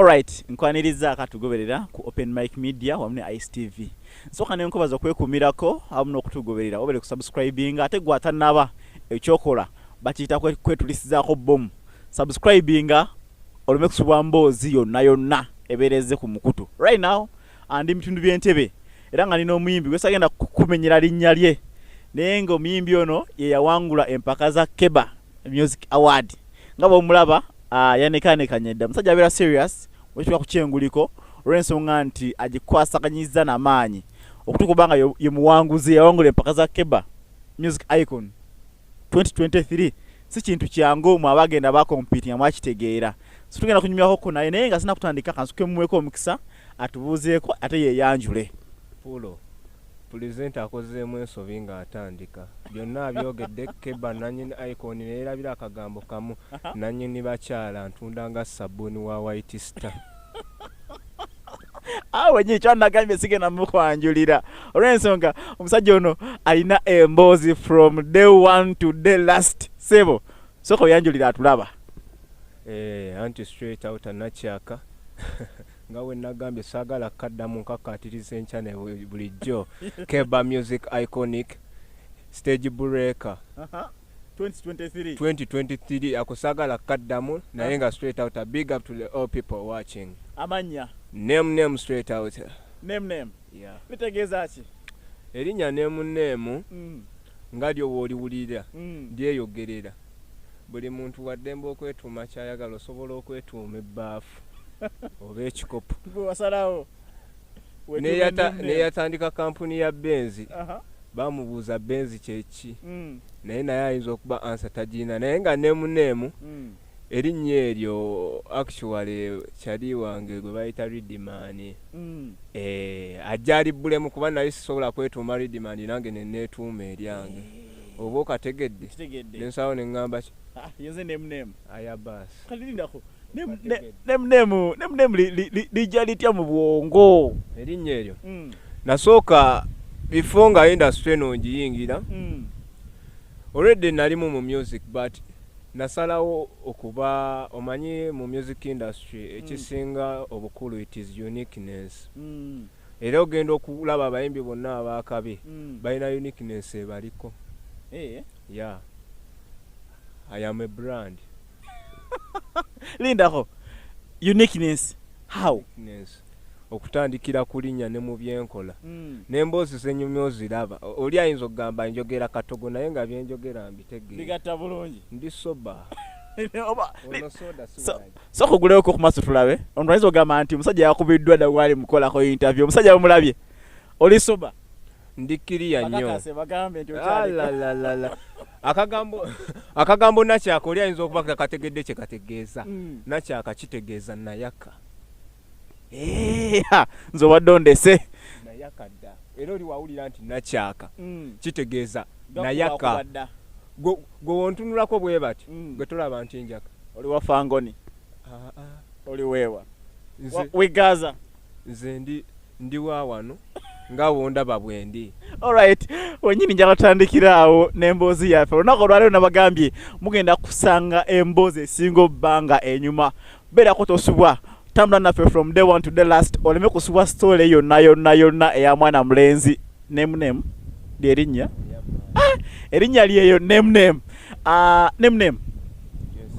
Alright, nkwaniriza akatugoberera ku Open Mic Media wamu ne Ice TV. Nsooka ne nkubaza okwekuumirako awamu n'okutugoberera obere ku subscribing ate gwatanaba ekyokola bakiyita kwetulisizaako bbomu. Subscribinga oleme kusubwa mboozi yonna yonna ebeera ezze ku mukutu. Right now andi bitundu by'entebe era nga nina omuyimbi gwe sagenda kukumenyera linnya lye naye ng'omuyimbi ono ye yawangula empaka za Keba. music award nga bwomulaba ah, yanekaanekanye dda musajja abeera serious wekitwa kukyenguliko olw'ensonga nti agikwasaganyiza namaanyi okutuuka obanga ye muwanguzi yawangula empaka za keba music icon 2023 si kintu kyangu mu abagenda bakompiitinga mwakitegeera so tugenda kunyumyako ko naye naye nga sina kutandika kansukemuweko omukisa atubuuzeeko ate yeyanjule pulo Pulezidenti akozeemu ensobi ng'atandika. Byonna abyogedde, Keba nnannyini Icon ne yeerabira akagambo kamu, Nnannyini bakyala ntunda nga ssabbuuni wa White Star. awo wenyini kyanagambye sigenda mukwanjulira olwensonga omusajja ono alina emboozi from day one to day last sebo soka oyanjulira atulaba eh, anti straight out anakyaka nga bwe nagambye saagala kukaddamu nkakkaatiriza enkya ne bulijjo keba music iconic stage breaker 2023 2023 ako saagala kukaddamu naye nga straight out big up to the all people watching amannya name name straight out name name yeah. litegeeza ki erinnya name name mm. nga lyo wooliwulira mm. lyeyogerera mm. buli muntu waddembe okwetuuma kyayagala osobola okwetuuma ebbaafu oba ekikopo neyatandika kampuni ya benzi bamubuuza benzi kyeki mm. naye naye ayinza okuba ansa tagirina naye nga nemuneemu mm. erinnya eryo actually kyali wange gwe bayita ridimani mm. eh, ajja alibbulemu kuba naye sisobola kwetuuma ridimani nange neneetuuma eryange eh. oba okategedde Nkitegedde. nensawo nengamba ki Ah, yenze name name. aya baasi Kati lindako. Name Kategedde. name name name name li- li- li- lija litya mu bwongo. erinnya eryo Mm. nasooka bifo nga industry eno ngiyingira Mm. already nalimu mu music but nasalawo okuba omanyi mu music industry ekisinga obukulu it is uniqueness Mm. Era ogenda okulaba abayimbi bonna abaakabi balina uniqueness ebaliko. Yeah. I am a brand. Lindako. Uniqueness. How? Uniqueness. okutandikira ku linnya ne mu byenkola hmm. n'emboozi zenyumya oziraba oli ayinza okugamba njogera katogo naye nga byenjogera mbitegeera ndi soba Saka ogulewo ko kumaso tulabe. Omuntu ayinza ogamba nti omusajja yakubiddwa da wali mukolako interview. Omusajja bamulabye. Oli soba. Ndi kiriya nnyo. Akakase bagambe nti okyali. La la la la. Akagambo akagambo nakyaka oli ayinza okuba kategedde kye kategeeza. Mm. Nakyaka kitegeeza nayaka. eh, nze obadde ondese nayakadda era oli wawulira nti nakyaka mm. kitegeeza nayaka gwe wontunulako bwe bati mm. gwe tolaba nti njaka oli wa fangoni ah, ah. oli weewa wigaza nze ndi ndi wa wano nga wondaba bwendi alright wenyini njala tutandikira awo n'emboozi yaffe olunaku olwaliro nabagambye mugenda kusanga emboozi esinga obbanga enyuma beerako tosubwa tambula naffe from day one to day last oleme kusubwa story yonna yonna yonna eya mwana mulenzi nemnem lyerinnya ah, erinnya lyeyo nemnem ah, nemnem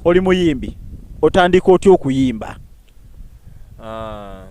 oli muyimbi otandika otya okuyimba ah,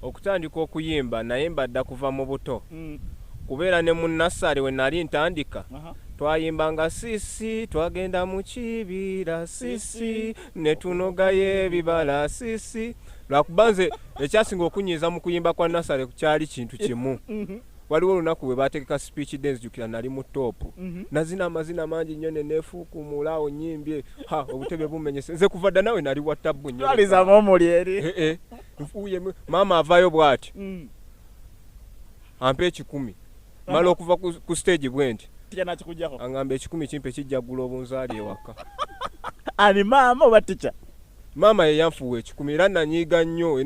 okutandika okuyimba naye mbadda kuva mu buto mm. kubeera ne mu nassale we nali ntandika uh -huh. twayimbanga sisi twagenda mu kibira sisi netunogayo ebibala sisi lwakuba nze ekyasinga okunyiiza mu kuyimba kwa nasale kyali kintu kimu mhm. waliwo olunaku bwe bategeka speech de nzijukira nali mu toopu mhm. nazina amazina mangi nnyo nenefuukumula awo nyimbye ha obutebe bumenyese nze kuva dda nawe nali wattabbu nnyolizamu omuli eri eh, eh. nfuuye maama avayo bwati mm. ampa ekikumi mala okuva ku stage bwenti angamba ekikumi kimpe kijjagula obunzaali ewaka ani maama oba tica maama yeyanfuwa ekikumi era nanyiiga nnyo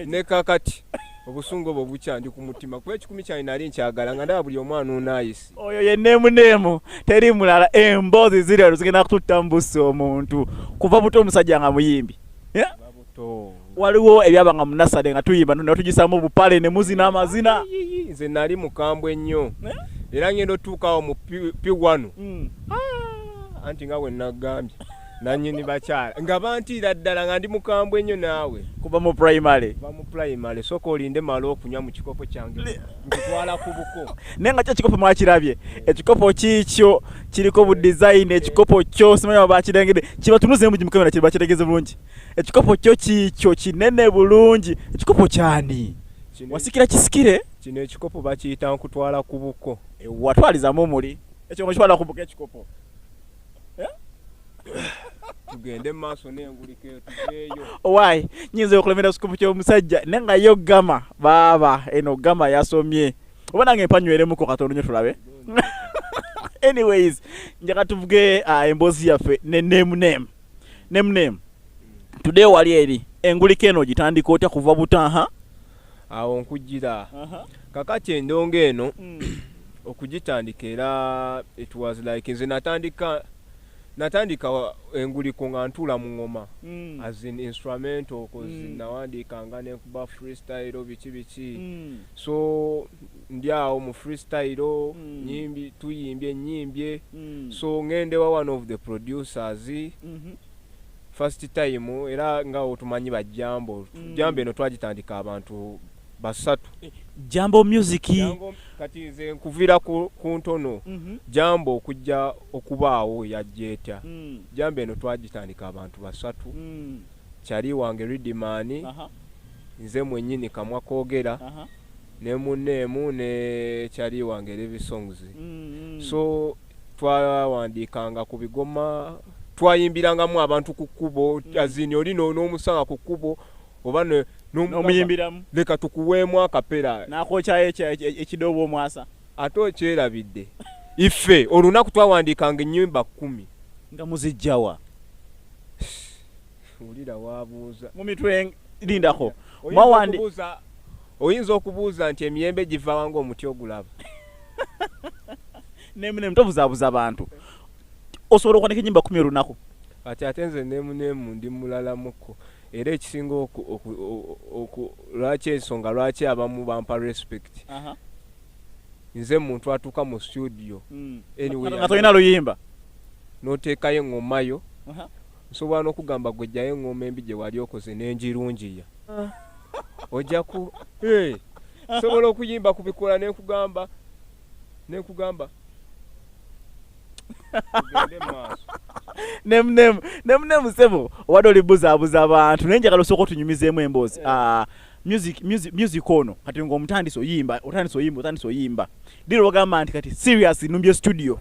ne kakati obusungu obwo bukyandi ku mutima kuba ekikumi kyange nali nkyagala nga ndaba buli omwana unayisi oyo ye neemu neemu teri mulala emboozi ziri alo zigenda kututta mu busi omuntu kuva buto omusajja nga muyimbi waliwo ebyabanga mu nasale nga tuyimba nno netugisamu obupale ne muzina amazina nze nali mukambwe nnyo eh? era ngenda otuukawo mu piwanu hmm. ah, anti nga wenagambye nanyini bakyala nga bantiira ddala nga ndi mukambwe nnyo naawe kuba mu primary ba mu primary soka olinde mala okunywa mu kikopo kyange nkitwala ku buko naye nga kyo ekikopo mwakirabye ekikopo kiikyo kiriko bu design ekikopo kyo simanyi bakirengede kibatunuze mu gimukamera kiri bakitegeze bulungi ekikopo kyo kiikyo kinene bulungi ekikopo kyani wasikira kisikire kino ekikopo bakiyita nkutwala ku buko watwalizamu omuli ekyo mukitwala ku buko ekikopo eh? tugende maaso nengulika etuveeyo owaye nyinza okulemera kikopo kyomusajja ne nga yo gama baaba eno gama yasomye oba nange mpanyweremuko katono nyo tulabe anyways njaka tuvuge ah, emboozi yaffe ne name name name name today wali eri engulika eno ogitandika otya kuva butaha awo nkujira kakati endongo eno mm. okugitandika era it was like nze natandika natandika enguliko nga ntuula mu ŋoma mm. as in instrumental kozi mm. nawandiikanga nenkuba freestyle biki biki mm. so ndi awo mu freestyle mm. nyimbi tuyimbye nyimbye mm. so ngendewa one of the producers mm -hmm. first time era nga otumanyi bajambo mm. jambo eno twagitandika abantu basatu eh, jambo music kati nze nkuvira ku, ku ntono mm -hmm. jambo okujja okubaawo yajjeeta mm. jambo eno twagitandika abantu basatu mm. kyali wange ridimani uh -huh. Nze mwenyini kamwa kogera ne munne emu ne kyali wange Levi Songs mm -hmm. so twawandiikanga ku bigoma twayimbirangamu abantu ku kkubo mm. azini oli n'omusanga ku kkubo oba n'omuyimbiramu leka tukuweemu akapera nakokyayo ekidoobo omwasa ate okyerabidde ife olunaku twawandiikanga ennyimba kkumi nga muzijjawa wulira wabuuza mu mitwe lindako mawandi oyinza okubuuza nti emiyembe giva wanga omuti ogulaba nemunemu tobuzabuza abantu osobola okwanika enyimba kumi olunaku ati ate nze nemunemu ndi mulalamuko era ekisinga lwaki ensonga lwaki abamu bampa respect nze muntu atuuka mu studio hmm. anyway, nga tolina luyimba noteekayo engomayo uh -huh. Nsobola n'okugamba gwe jjayo eng'oma embi gye wali okoze ne ngirungiya. Ojja ku, hey! Nsobola okuyimba ku bikoola ne nkugamba, ne nkugamba, tugende mu maaso. Nemu, nemu, nemu, nemu, ssebo, obadde oli buzaabuza abantu, naye njagala osooka otunyumizeemu emboozi. Eh. Ah, music, music, music ono, kati nga omutandise oyimba, otandise oyimba, otandise oyimba. Dira ogamba nti kati, seriously, numbye studio.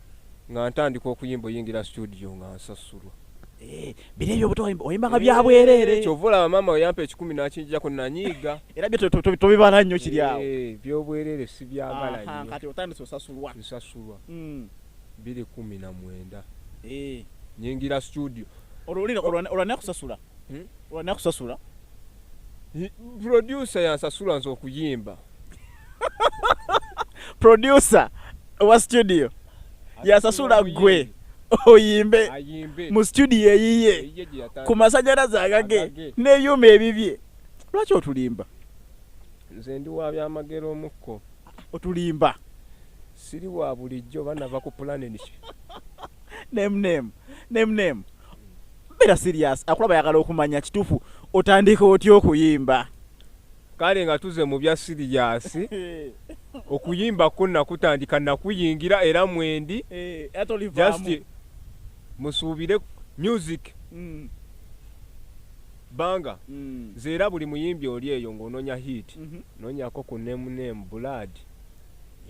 nga ntandika okuyimba oyingira studio nga nsasulwa eh, bino ebyo obuto oyimba nga byabwereere eh, kyova olaba maama weyampa ekikumi nakinjijako nanyiiga era byo tobibala nnyo kiri awo eh, byobwereere sibyagala nnyo kati otandise osasulwa nsasulwa hmm. biri kumi na mwenda nyingira studio olwanakusasula hmm? olwanakusasula producer yansasula nze okuyimba producer wa studio yasasula gwe oyimbe mu studio eyiye ku masanyalaze agage n'ebyuma ebibye lwaki otulimba nze ndi wa byamagero omukko otulimba siri wa bulijjo banava ku pulanen nemnem nemnem beera sirias akulaba yagala okumanya kituufu otandika otya okuyimba Kale nga tuze mu bya siriyaasi okuyimba kwo nakutandika nakuyingira era mwendi eh, just musuubire music mm. banga mm. nze era buli muyimbi oli eyo ng'ononya hit mm -hmm. nonyako ku name name blood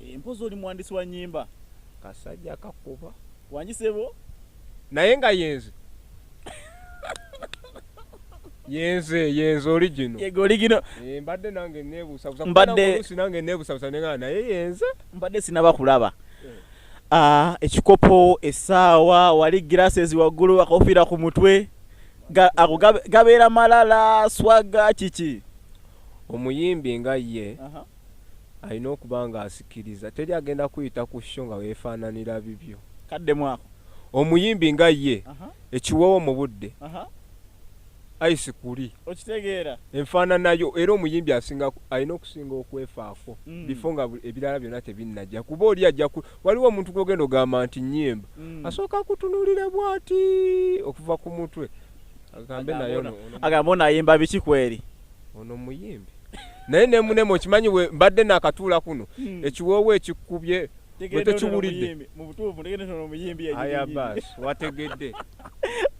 eh, mpozi oli muwandisi wa nyimba kasajja kakuba wanjisebo naye nga yenze yenze yenze oligino yego oligino eh, mbadde nange nebusabusa mbadde nange nebusabusa nenga naye yenze mbadde sinaba kulaba eh. ah, ekikopo esaawa wali glasses waggulu akofira ku mutwe ako gabeera malala swaga kiki omuyimbi nga ye uh -huh. alina okuba nga asikiriza teri agenda kuyita ku sho nga wefaananira bibyo kaddemu ako omuyimbi nga ye ekiwoowo mu budde ayisi kuli okitegeera enfaananayo era omuyimbi asinga alina okusinga okwefaako mm. bifo nga ebirala byonna tebinnajja kuba oli ajja waliwo omuntu gwogenda ogamba nti nyimba mm. asooka kutunulira bwati okuva ku mutwe agambe naye agamba ono ayimba biki kweri ono muyimbi naye nemunema okimanyi we mbadde nakatuula kuno hmm. ekiwoowo ekikubye wetekiwulidde wategedde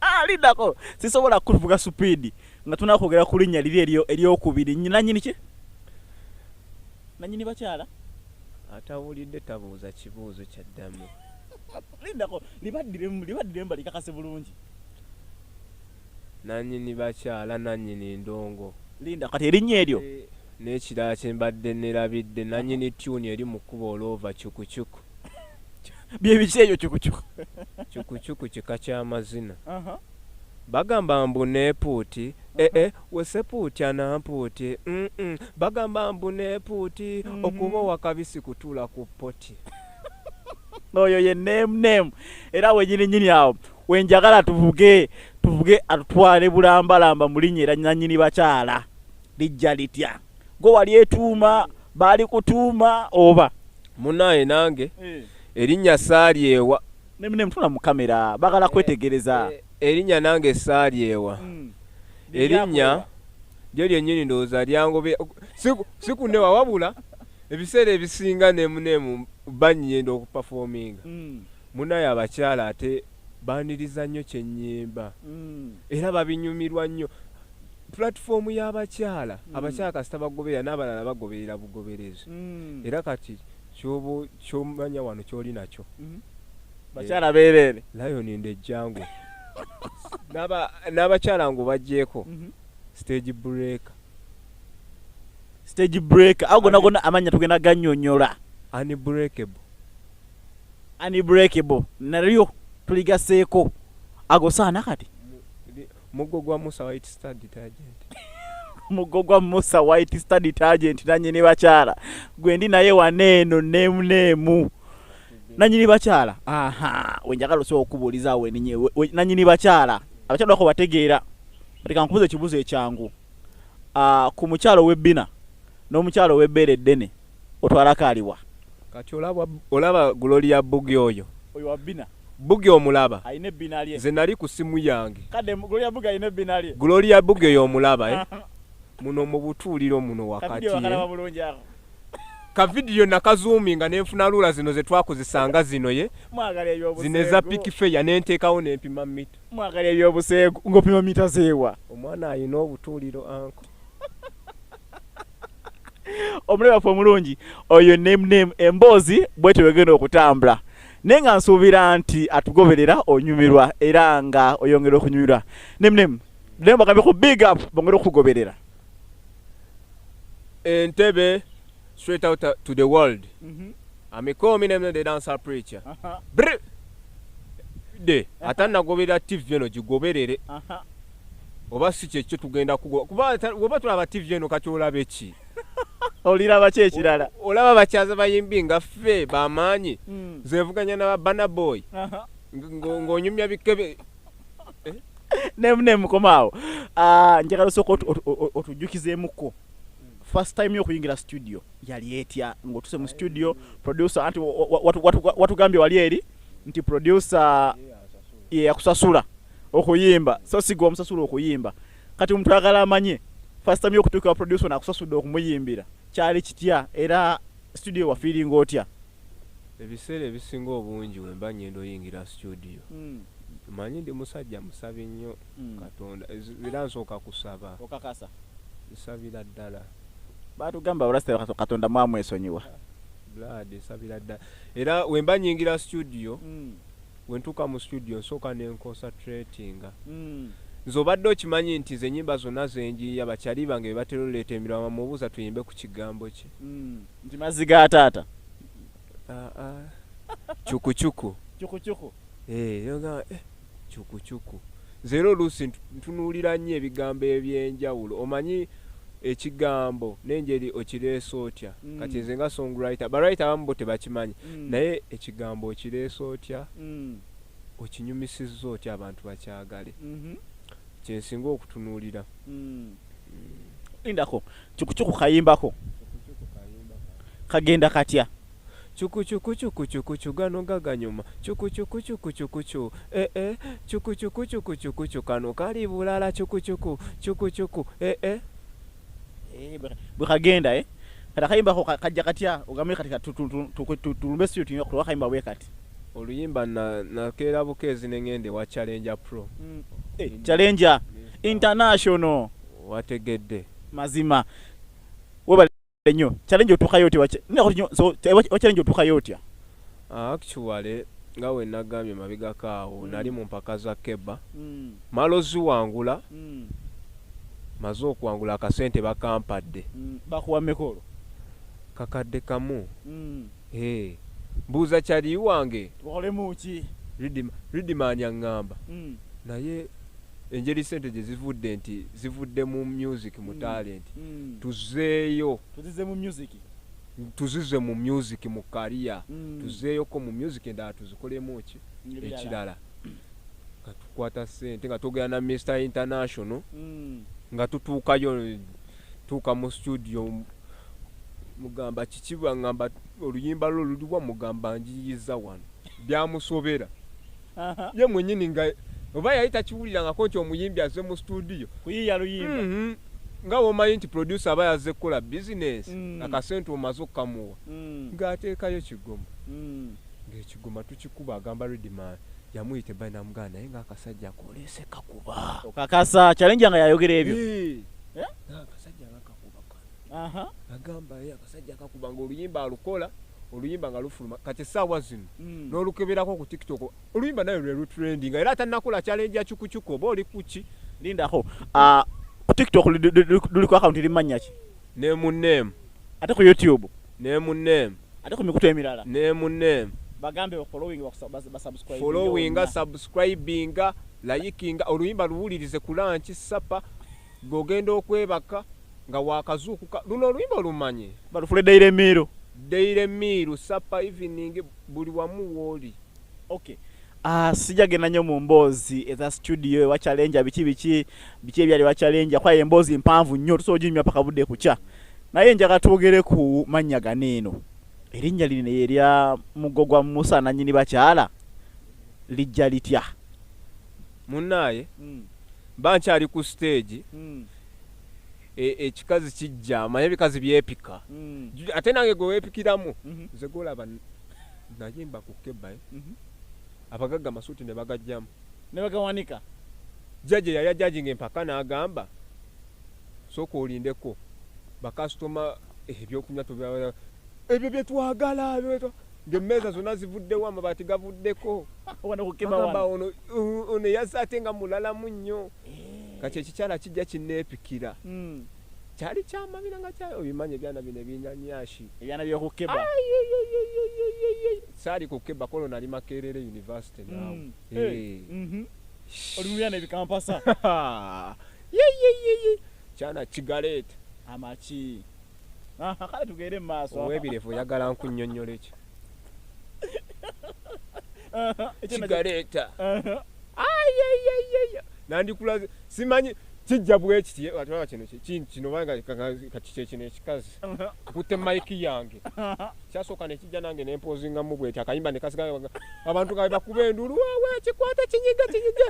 alidako ah, sisobola kuvuga supiidi nga tunakwogera ku linnya liri eryo eryokubiri nanyini ki nanyini bakyala atawulidde tabuuza kibuuzo kyaddamu lindako libaddiremu libaddiremu balikakase bulungi Nanyini bakyala nanyini ndongo. Linda kati erinnya eryo. Nekirala kyembadde nerabidde nanyini tune eri mu kkubo olwova cukucuku. Byebiki ebyo cukucuku? Cukucuku kika kya mazina. Bagamba mbu nepuuti eh eh wesepuuti anampuuti mm bagamba mbu nepuuti okuba owakabisi kutuula ku poti. Oyo ye name name era wenyini nyini awo. wenjagala tuvuge tuvuge atutwale bulambalamba mu linnya era nannyini bakyala lijja litya gwe wali etuuma baali kutuuma oba munaye nange eh. erinnya saalyewa nemune mutula mu kamera bagala eh, kwetegereza eh, erinnya nange saalyewa hmm. erinnya lyo lyennyini ndowooza lyangobe sikunewa wabula ebiseera ebisinga nemunemu banyenda okupafominga hmm. Munaye abakyala ate baniriza nnyo kyenyimba era babinyumirwa nnyo platform yabakyala abakyala kasita bagoberera nabalala bagoberera bugoberezi era kati kyoba kyomanya wano kyoli nakyo bakyala bereere lion nde jangu nabakyala ngo bajeko stage break stage break ago nagona amanya tugenda ganyonyola unbreakable unbreakable nalyo tuligaseeko agosaana kati muggo gwa musa white star detergent muggo gwa musa white star detergent nanyini bakyala gwendi naye waneeno neemu neemu nanyini bakyala aha wenjagala osobola okubuuliza awo eninye nanyini bakyala abakyala bako bategeera atika nkubuza ekibuzo ekyangu ah, ku mukyalo webbina n'omukyalo webbeera eddene otwala kaliwa kati olaba olaba gloria bugi oyo oyo wabina bugi omulaba ayine binalye nze nali ku simu yange kade gloria bugi ayine binalye gloria bugi oyo omulaba eh muno mu butuuliro muno wakati eh? ka vidiyo nakazuuminga ne nfuna luula zino ze twakozesanga zino ye zino eza pikifeya ne nteekawo ne mpima mita mwagala ebyobuseegu ng'opima mita zeewa omwana alina obutuuliro anko omulabe waffe omulungi oyo nemname emboozi bwetyo wegenda okutambula naye nga nsuubira nti atugoberera onyumirwa era nga oyongera okunyumirwa nemname naye mbagambe ku big up bongere okukugoberera entebe straight out to the world mm -hmm. amikomi nemne the dancer preacher uh -huh. de uh -huh. atanagoberera tv eno gigoberere uh -huh. oba si kyekyo tugenda kugoba kuba oba tulaba tv eno kati olaba eki oliraba ki ekirala olaba bakyaza bayimbi nga ffe bamaanyi hmm. zevuganya na babana boy ng'onyumya bikebe eh? nemukomaawo ah, njagala osooka otujjukizeemuko first time yokuyingira studio yali etya ng'otuse mu studio producer anti watugambye wali eri nti producer yeyakusasula okuyimba so sigwa omusasula okuyimba kati omuntu ayagala amanye first time yokutuuka wa producer nakusasudde okumuyimbira kyali kitya era studio wafiiringa otya ebiseera ebisinga obungi wemba ngenda oyingira studio mm. manyi ndi musajja musabi nnyo mm. katonda era nsooka kusaba okakasa nsabira ddala batugamba abalasita katonda mwamwesonyiwa blood nsabira ddala era wemba nyingira studio mm. wentuuka mu studio nsooka ne nconcentratinga mm. nze obadde okimanyi nti ze nyimba zonna zenjiiya bakyali bange bebatera oleeta emiraba mubuuza tuyimbe ku kigambo kye mm. nti mazzi ga taata cukucuku ah, ah. cukucuku eh, eh, cukucuku Nze era oluusi ntunuulira nnyo ebigambo eby'enjawulo. Omanyi, ekigambo n'enjeri okireese otya? Mm. Kati nze nga song writer, ba writer abamu bo tebakimanyi, mm. naye ekigambo okireese otya? Mm. Okinyumisizza otya abantu bakyagale? Mm -hmm. Kye nsinga okutunuulira. Mm. Mm. Lindako, cukucuku kayimbako. Kagenda katya? Chukuchukuchukuchukuchu gano gaganyuma Chukuchukuchukuchukuchu eh eh Chukuchukuchukuchukuchu kano kali bulala Chukuchuku chukuchuku eh eh eh bwekagenda eh kati akayimba ako kajja katya ogambe kati tulumbe studio tuyinga kutuwa akayimba bwe kati oluyimba nakeera bukeezi ne ng'enda ewa challenger pro mm. eh, challenger international wategedde mazima nyo challenge otuka yote wache nina kuti nyo so wache challenge otuka yote ya ah, actually nga we nagambye mabiga kaawo mm. nali mu mpaka za keba mm. malo ziwangula mm. maze okuwangula akasente bakampadde mm. bakuwa mekolo kakadde kamu mm. hey. buuza kyali wange ridimani aŋŋamba mm. naye engeri sente gye zivudde nti zivudde mu music mu mm. talent mm. tuzeeyo tuzize mu music tuzize mu music mu kariya mm. tuzeeyoko mu music endala tuzikolemu ki ekirala nga tukwata sente nga twogera na mr international nga tutuukayo tuuka mu studio mugamba kikibwa ngamba oluyimba lwo luliwa mugamba njiyiza wano byamusobera ye mwenyini nga oba yali takiwulirangako nti omuyimbi aze mu studio kuyiya luyimba mm -hmm. nga womanyi nti producer aba yazze kukola bizinesi mm. akasente omaze okukamuwa mm. ng'ateekayo kigoma mm. ng'ekigoma tukikuba agamba redman yamuyita ebbali namugana naye ng'akasajja koleese kakuba okakasa kyalenja nga yayogera ebyo akasajja nga kakuba agamba ye akasajja kakuba nga oluyimba alukola oluyimba nga lufuluma kati esaawa zino mm. n'olukeberako ku tiktok oluyimba naye lwe lutrending era atanakola challenge ya chukuchuku oba oli kuki lindako ah, ku tiktok luliko akawunti limanya ki ne mu name ate ku youtube ne mu name ate ku mikutu emirala ne mu name bagambe following basubscribe following subscribing liking oluyimba luwulirize kulanki sapa gwe ogenda okwebaka nga wakazuukuka luno oluyimba olumanyi balufule daire miiru daire miiru sapa evening buli wamu wooli okay Uh, sija genda nyo mu mboozi eza studio ewa challenge biki biki biki ebyali wa challenge kwaye emboozi mpanvu nnyo tusobola oginyumya paka budde kukya naye njaga twogere ku mannya gano eno erinnya lino erya mugo gwa musa nanyini bakyala lijja litya munaaye mm. Mba nkyali ku stage e- ekikazi kijja manya ebikazi byepika Ju- ate nange gwe wepikiramu nze golaba n- nayimba ku kebae abagagga amasuuti ne bagajjamu nebagawanika jaji yali ajajinga empaka n'agamba sooka olindeko bakasitoma ebyokunywa tubya ebyo bye twagala ebyo bye twa-" ngemmeeza zonna zivuddewo amabaati gavuddeko agamba ono ono yazze ate nga mulalamu nnyo eh. kati ekikyala kijja kinneepikira hmm. kyali kyamabira nga kyayo obimanyi ebyana bino ebinyanyashi ebyana byokukeba saali kukeba kolo nali makerere university hmm. nawe eh. mhm. oli mubyana ebikampasa kyana kigareeta amaki kale tugende mu maaso owebirevu oyagala nkunyonyola ekyo kigaleeta nandikulaze simanyi kijja bwekiti atulaba kino kino banga kakikyekino ekikazi kutte maiki yange kyasooka nekijja nange nempozingamu bwekyo akayimba nekasiga abantu nga bebakuba endulu wawe kikwata kinyiga kinyiga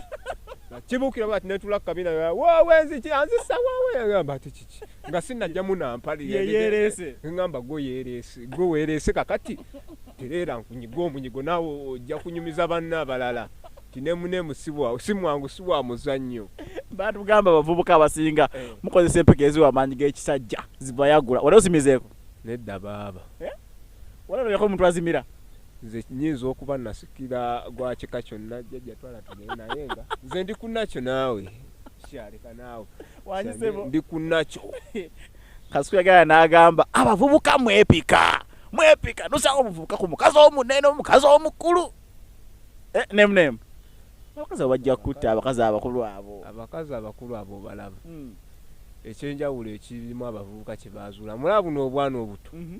kibukira bati netula kukabina wawe nziki anzisa wawe agamba ti kiki nga sinajja munampali yeyerese ngamba go yerese go werese kakati terera nkunyiga omunyigo nawe ojja kunyumiza banna abalala tinemune musibwa simwangu siwa muzannyo bantu gamba bavubuka abasinga eh. mukozesa empeke eziwa amaanyi g'ekisajja zibayagula wali osimizeeko nedda baaba eh? wali olabeko omuntu azimira nze nyinza okuba nasikira gwa kika kyonna jjajja twala tugende naye nga nze ndi ku nakyo naawe kyaleka naawe ndi ku nakyo kasuku yagala n'agamba abavubuka mwepika mwepika nosanga omuvubuka ku mukazi omunene omukazi omukulu eh, nemunemu abakazi abo bajja kutta abakazi abakulu abo abakazi abakulu abo balaba hmm. ekyenjawulo ekirimu abavubuka kye baazuula mulaba buno obwana obuto mhm.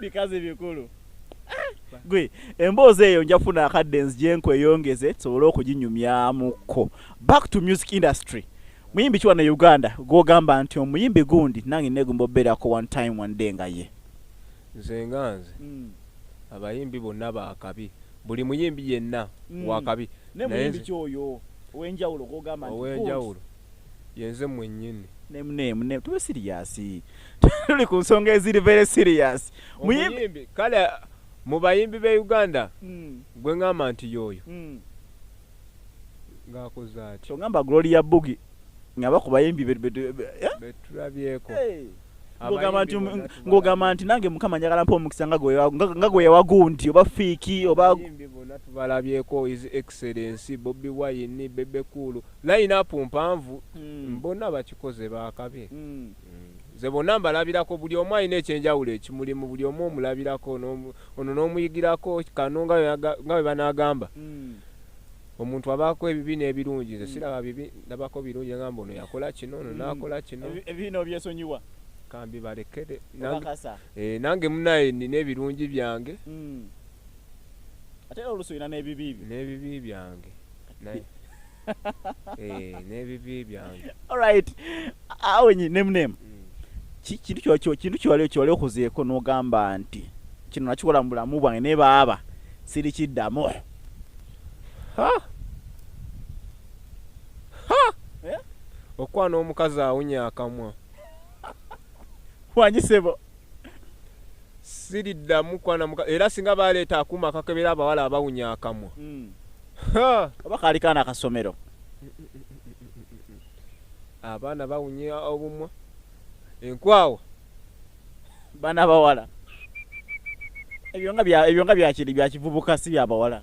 bikazi bikulu gwe emboozi eyo nja kufuna akadde nzigyenkweyongeze tusobole okuginyumyamukko back to music industry muyimbi kiwa na uganda gwogamba nti omuyimbi gundi nange negumba obeerako one time one day nga ye nze nga nze mm. abayimbi bonna bakabi buli muyimbi yenna mm. wakabi naye nze oyo owenjawulo gwogamba nti owenjawulo yenze mwenyini. Name name name tube serious tuli ku nsonga eziri very serious muyimbi kale mu bayimbi be Uganda mm. gwe ngamba nti yoyo mm. ngakoze ati so ngamba Gloria Bugi ngaba ku bayimbi be eh? betulabyeko hey. ngogamba nti nange mukama njagala mpa omukisa nga gwewagundi oba fiiki oba tubalabyeko is ex Excellency, Bobi Wine, Bebe Cool, line up mpanvu mm. bona bakikoze bakabe mm. mm. nze bonna mbalabirako buli omu alina ekyenjawulo ekimulimu buli omu omulabirako ono n'omuyigirako kano nga bwe banaagamba hmm. omuntu abaako ebibi n'ebirungi nze hmm. siraba bibi ndabako birungi ngamba ono yakola kino ono hmm. naakola kino ebiina obyesonyiwa kambi balekere eh, nange munaye nina ebirungi byange ate era oluusi olina n'ebibi byo n'ebibi byange naye Eh, n'ebibi byange alright awenyi nemunemu Mm. kintu kyo- kyo- kintu kyewali kyewali okuzeeko n'ogamba nti kino nakikola mu bulamu bwange naye baaba siri kiddamu Ha! Ha! Eh? okwana omukazi awunya akamwa wanyi sebo siriddamu kwana muka era singa baleeta akuuma akakebera abawala abawunya akamwa mm. oba kaali kaana akasomero abaana bawunya obumwa enkwawa baana bawala ebyo nga byakiri byakivubuka si byabawala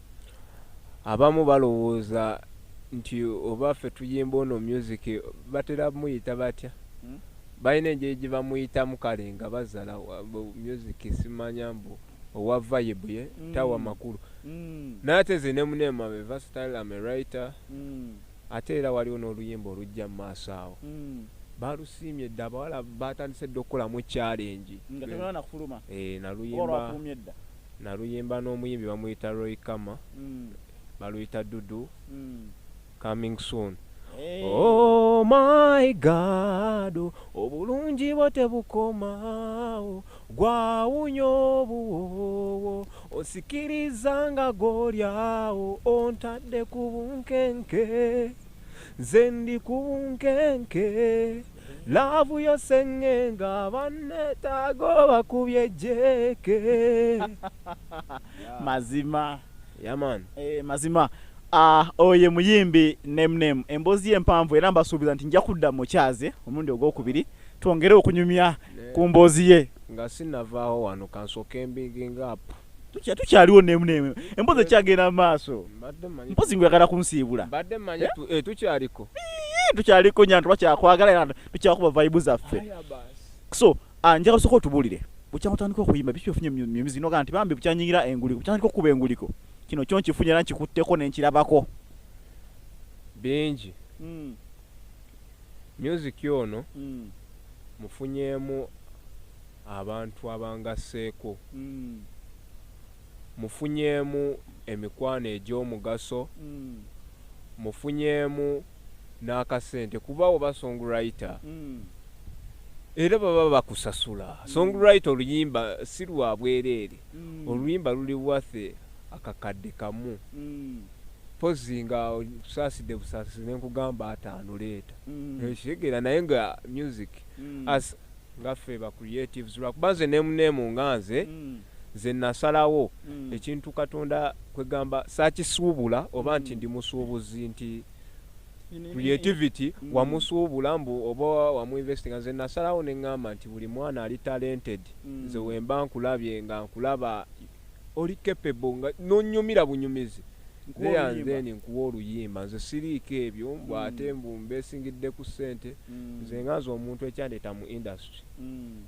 Abamu balowooza nti oba ffe tuyimba ono music batera muyita batya? Hmm? Balina engeri gye bamuyitamu kale nga bazala music simanya mbu owa vibe ye hmm. tawa makulu. Hmm. Naye ate nze ne mune mabe versatile am a writer. Hmm. Ate era waliwo n'oluyimba olujja mu maaso awo. Hmm. Balusiimye dda abawala baatandise dda okukolamu challenge. Nga tebanafuluma. Eh, naluyimba. Olwakumye dda. Naluyimba n'omuyimbi bamuyita Roy Khama, baluyita Dudu, coming soon. Oh my God, obulungi bwo tebukoma, oh, gwawunya obuwoowo, onsikiriza nga gw'oli awo, ontadde ku bunkenke. Nze ndi ku bunkenke laavu yo seng'enga bannetaago bakubye jjeeke mazima yaman eh, mazima ah, oye muyimbi nemname emboozi empanvu era mbasuubiza nti nja kudda mukyaze omulundi ogwokubiri twongere okunyumya ku mboozi ye nga sinavaawo wano kansooka embiging up Tukya- tukyaliwo nemu nemu empozi ekyagenda mu maaso Mbadde mmanyi- mpozi ngoyagala kunsiibula mbadde mmanyi tu- eh, tukyaliko Ii, tukyaliko nyantu bakyakwagala era tukyakuba vibe zaffe Aya basi. so ah, njagala osooka otubulire bukyanga otandika okuyimba biki ofunye mu mu mizino ga nti bambi bukyanyingira enguliko bukyandika okukuba enguliko kino kyo nkifunye era nkikutteko ne nkirabako bingi Music ono mufunyeemu abantu abangasseeko, mufunyeemu emikwano egy'omugaso, mufunyeemu n'akasente kuba oba songwriter era baba bakusasula. Songwriter oluyimba si lwa bwereere, oluyimba luli worth akakadde kamu. Mpozzi nga okusaasidde busaasizi ne nkugamba ataano leeta. Okitegeera naye nga music as nga ffe ba creatives lwakuba nze name name nga nze nze nasalawo ekintu Katonda kwegamba saakisuubula oba nti ndi musuubuzi nti creativity wamusuubula mbu oba wamu investinga nze nasalawo ne ngamba nti buli mwana ali talented nze wemba nkulabye nga nkulaba oli capable nga nonyumira bunyumizi leya nzeni nkuwa oluyimba nze siriiko ebyo mbu mm. ate mbu mbesingidde ku ssente mm. nze nga nze omuntu ekyandeeta mu industry mm.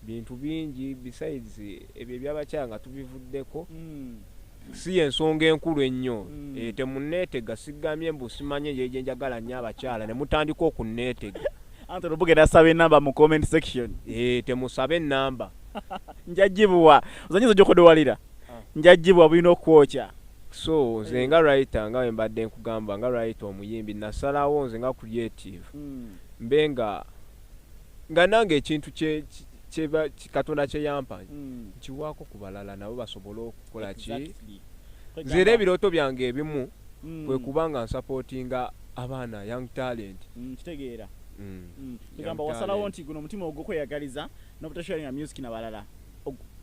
bintu bingi besides ebyo ebyabakyala nga tubivuddeko si yensonga enkulu ennyo eh, temuneetega sigamye mbu simanye yeje njagala nnyo abakyala ne mutandika okunneetega anti olubugera asaba enamba mu comment section eh, temusaba enamba njajibwa ozanyiza ojokodowalira ah. njajibwa bulina okwokya so nze nga writer nga wembadde nkugamba nga writer omuyimbi nasalawo nze nga creative hmm. mbe nga nga nange ekintu katonda kyeyampa hmm. nkiwaako ku balala nabo basobole okukola ki nze era ebirooto byange ebimu hmm. kwe kuba nga nsapootinga abaana young talent kitegeera tugamba wasalawo nti guno omutima ogwokweyagaliza nobutasharinga music nabalala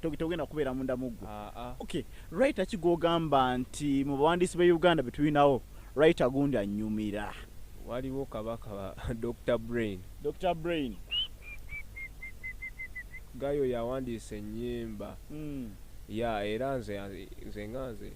togenda kubeera munda muggu ah, ah. okay writer ki gwogamba nti mu bawandiisi be uganda betulinawo writer gundi anyumira waliwo kabaka dr brain dr brain gayo yawandiisa ennyimba hmm. ya era nze nze nga nze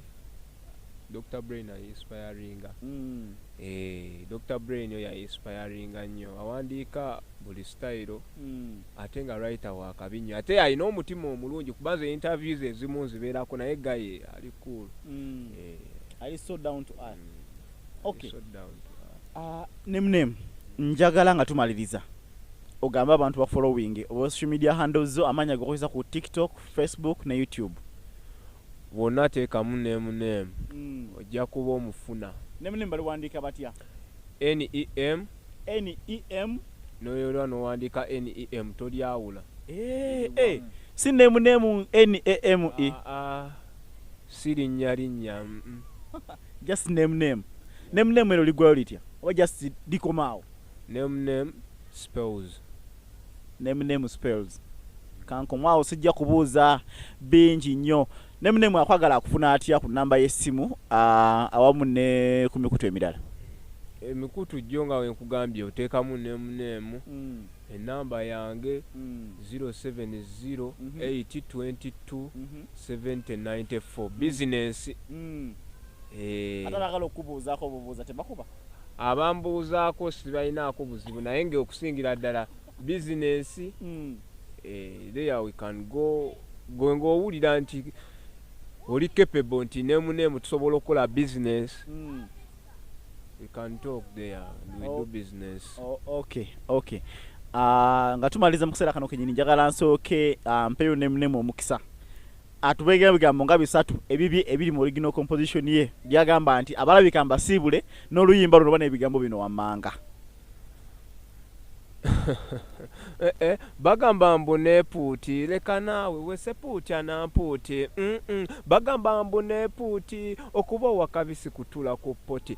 Dr. Brain a inspiringa mm. eh, Dr. Brain yo ya inspiringa nnyo awandiika buli style mm. ate nga writer wakabi nnyo ate alina omutima omulungi kuba nze interviews ezimu nzibeerako naye gaye ali cool mm. eh. ali so down to earth mm. okay. so down to earth. Uh, name name njagala nga tumaliriza ogambe abantu bafollowing oba social media handles zo amaanyi agokozesa ku tiktok facebook ne youtube Bwonna teekamu name name ojja kuba omufuna. Name name baliwandiika batya? NEM. NEM. Noyolwa nowandiika NEM tolyawula. Eeh eeh si name name NAME. Aah si linnya linnya mm. Just name name. Name name eryo ligwayo litya oba just likoma awo? Name name spells. Name name spells kankomu awo sijja kubuuza bingi nnyo name name akwagala akufuna atya ku namba y'essimu awamu ne ku mikutu emirala emikutu jjo nga wenkugambye oteekamu name name mm. enamba yange 0708227094 mm-hmm. mm-hmm. bizinensi mm. eh. ate bagala okubuuzaako obubuuza tebakuba abambuuzaako sibalinaako buzibu naye nga okusingira ddala bizinensi mm. eh, there we can go gwe ngaowulira nti oli capable nti nemuneemu tusobola okukola bizinensi mm. we can talk there we oh. do business oh, okay okay uh, nga tumaliza mu kiseera kano kenyini njagala nsooke uh, mpeyo nemunemu omukisa Atubegera ebigambo nga bisatu ebibye ebiri mu original composition ye byagamba nti abalabika mbasiibule n'oluyimba luno bana ebigambo bino wammanga. Eh, eh, bagamba mbu nepuuti leka naawe wesepuuti anampuuti mm, mm. bagamba mbu nepuuti okuba owakabisi kutula ku poti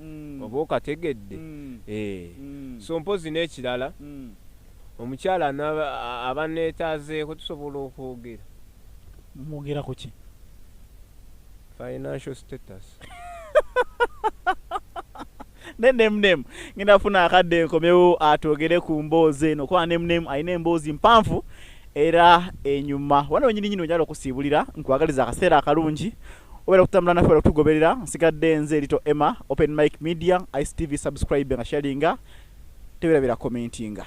mm. oba okategedde mm. eh. mm. so mpozi n'ekirala mm. omukyala abaneetaazeeko tusobola okwogera mwogera ku ki financial status nenemnemu ngenda funa akadde enkomewo atwogere ku mboozi eno kuba nemnemu alina emboozi mpanvu era enyuma wano wenyini nyini onyala okusiibulira nkwagaliza akaseera akalungi obera okutambula naffe obera okutugoberera nsigadde nze erito emma open mike media ictv subscribe nga sharinga teberabira commentinga